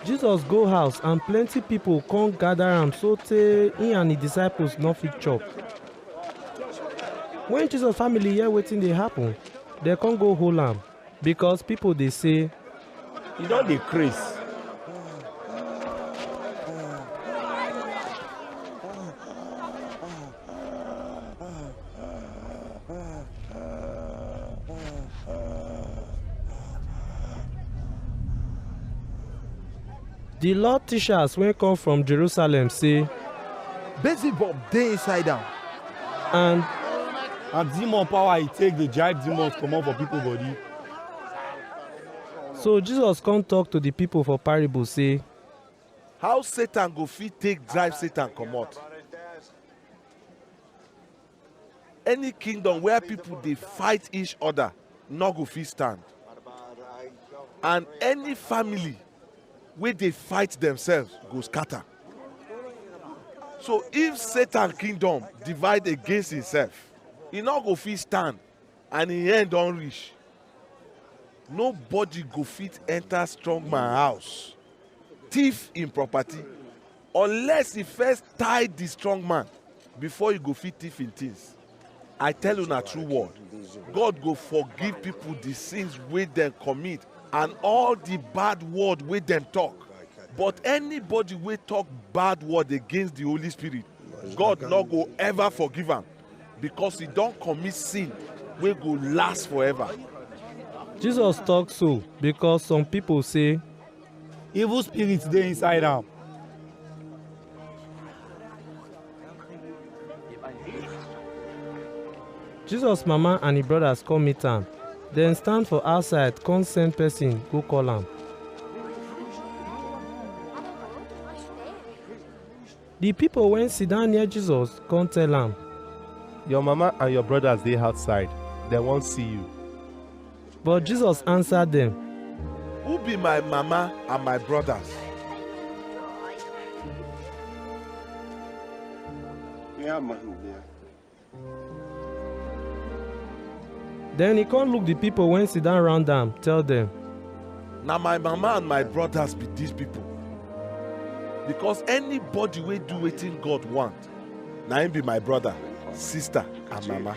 jesus go house and plenty people come gather am so tey he and his disciples no fit chop when jesus family hear wetin dey happen dem come go hold am Because people dey say, He don dey craze. The law teachers wey come from Jerusalem say, Beelzebub dey inside am. and and demon power he take dey drive demons comot for people body. so jesus come talk to the people for parable say how satan go fit take drive satan comot any kingdom where people dey fight each other no go fit stand and any family wey dey fight themselves go scatter. So if Satan kingdom divide against himself, e no go fit stand and im end don reach. Nobody go fit enter strong man house, thief im property Unless e first tie the strong man before e go fit thief im things. I tell una true word, God go forgive people the sins wey dem commit and all the bad word wey dem talk. But anybody wey talk bad word against the Holy Spirit, God no go ever forgive am because he don commit sin wey go last forever. Jesus talk so because some people say, evil spirit dey inside am. jesus mama and im brothers come meet am dem stand for outside come send person go call am Di pipo wey sidon near Jesus kon tell am, Your mama and your brodas dey outside, dem wan si yu. But Jesus ansa dem, Who be my mama and my brodas? Den e kon look di pipol wey sidon round am, tell dem, Na my mama and my brodas be dis pipol. Bikos anybody wey do wetin God want, na im be my broda, sista and mama.